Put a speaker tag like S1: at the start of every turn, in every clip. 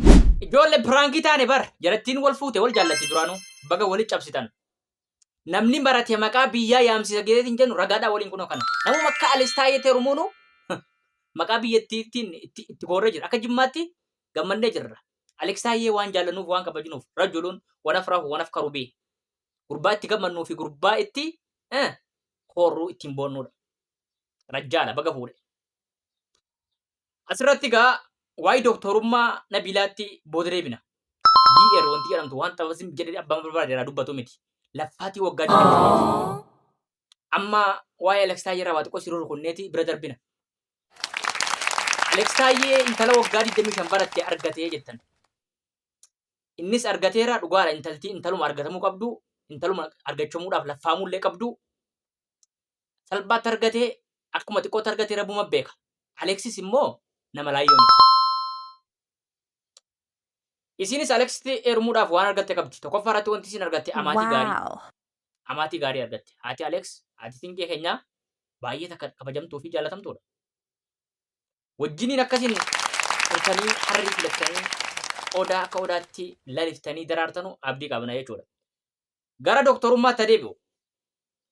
S1: Ijoolle prank taane bar jarattiin wal fuute wal jaallatti duraanu baga wali cabsitan namni marate maqaa biyyaa yaamsisa geetetin jennu ragaadha waliin kuno kana namuma akka alis taayee terumuunu maqaa biyyattiitiin itti itti goorree jira akka jimmaatti gammannee jirra Alex Taayyee waan jaallanuuf waan kabajinuuf rajuluun wanaf rahu wanaf karubii gurbaa itti gammannuu fi gurbaa itti eh, horruu ittiin boonnuudha rajjaadha baga fuudhe Asirratti egaa waa'ee doktorummaa Nabiilaatti booda deebina. DR wanti jedhamtu waan xabasni jedhee abbaan barbaade irraa dubbatu miti. Laffaatii waggaa 25 amma waa'ee Alex Taayyee irraa waa xiqqoo siruu rukunneeti bira darbina. Alex Taayyee intala waggaa 25 baratte argatee jettan. Innis argateera dhugaadha intalti intaluma argatamuu qabdu intaluma argachamuudhaaf laffaamuu illee qabdu salphaatti argatee akkuma xiqqootti argate rabuma beeka. Aleksis immoo nama laayyoo miti. Isiinis Aleksitti eermuudhaaf waan argatte qabdi. Tokkoffaa irratti wanti isin argatte amaatii gaarii. Wow. Amaatii gaarii argatte. Haati Aleks, haati Siinqee keenyaa baay'ee takka kabajamtuu fi jaalatamtuudha. Wajjiniin akkasiin turtanii harrii filattanii odaa akka odaatti laliftanii daraartanu abdii qabna jechuudha. gara doktorummaatti adeebi'u.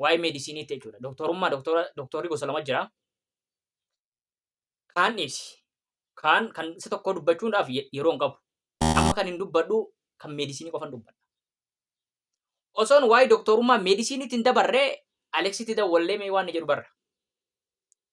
S1: Waa'ee meedisiiniitti jechuudha. Doktorummaa doktorri gosa lama jira. Kaan dhiisi. Kaan kan isa tokkoo dubbachuudhaaf yeroo hin qabu. Amma kan hin dubbadhu kan meedisinii qofan dubbadha. Osoon waa'ee doktorummaa meedisiiniitti hin dabarree Aleksitti dawwallee mee waan jedhu barra.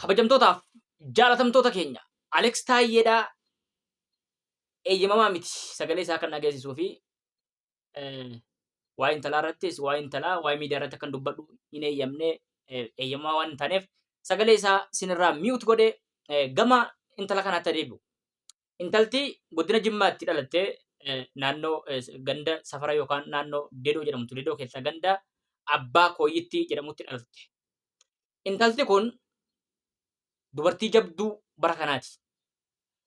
S1: kabajamtootaaf jaalatamtoota keenya Aleeks Taayyeedhaa eeyyamamaa miti sagalee isaa kan dhageessisuu fi waa intalaa irrattis waa intalaa waa miidiyaa irratti kan dubbadhu hin eeyyamne eeyyamaa waan hin taaneef sagalee isaa sinirraa mi'uut godhe gama intala kanaatti adeemu. Intalti godina Jimmaatti dhalatte naannoo ganda safara yookaan naannoo Dedoo jedhamtu Dedoo keessaa ganda Abbaa Kooyyittii jedhamutti dhalatte. Intalti kun dubartii jabduu bara kanaati.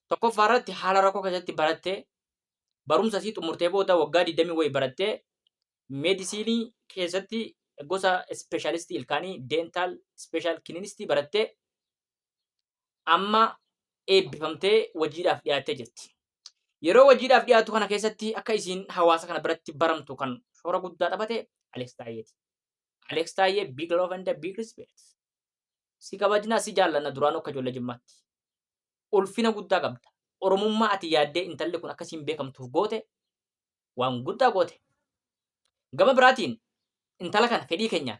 S1: Tokkoffaa irratti haala rakkoo keessatti baratte barumsa isii xumurtee booda waggaa 20 wayii barattee meedisiinii keessatti gosa ispeeshaalistii ilkaanii deental ispeeshaal kilinistii barattee amma eebbifamtee wajiidhaaf dhiyaattee jirti. Yeroo wajiidhaaf dhiyaatu kana keessatti akka isiin hawaasa kana biratti baramtu kan shoora guddaa taphate Aleeks Taayyeeti. Aleeks Taayyee big love and big respect. Si kabajnaa si jaallanna duraanuu akka ijoollee jimmaatti. Ulfina guddaa qabda. Oromummaa ati yaaddee intalli kun akkasiin beekamtuuf goote waan guddaa goote. Gama biraatiin intala kana fedhii keenyaan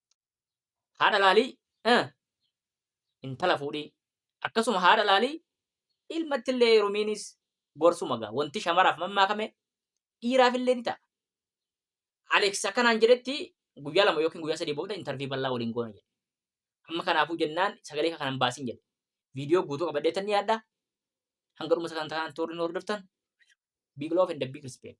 S1: haadha laalii eh, intala fuudhii akkasuma haadha laalii ilmatti illee heerumiinis gorsuma gaa wanti shamaraaf mammaakame dhiiraaf illee ni ta'a. Alex akkanaan jedhetti guyyaa lama yookiin guyyaa sadii booda intarvii bal'aa waliin goona jedhe. Amma kanaafuu jennaan sagalee kanan baasin jedhe. Viidiyoo guutuu qabadhee tan ni yaadda. Hanga dhuma sagantaa kanaan toorri nu hordoftan. Big love and a big respect.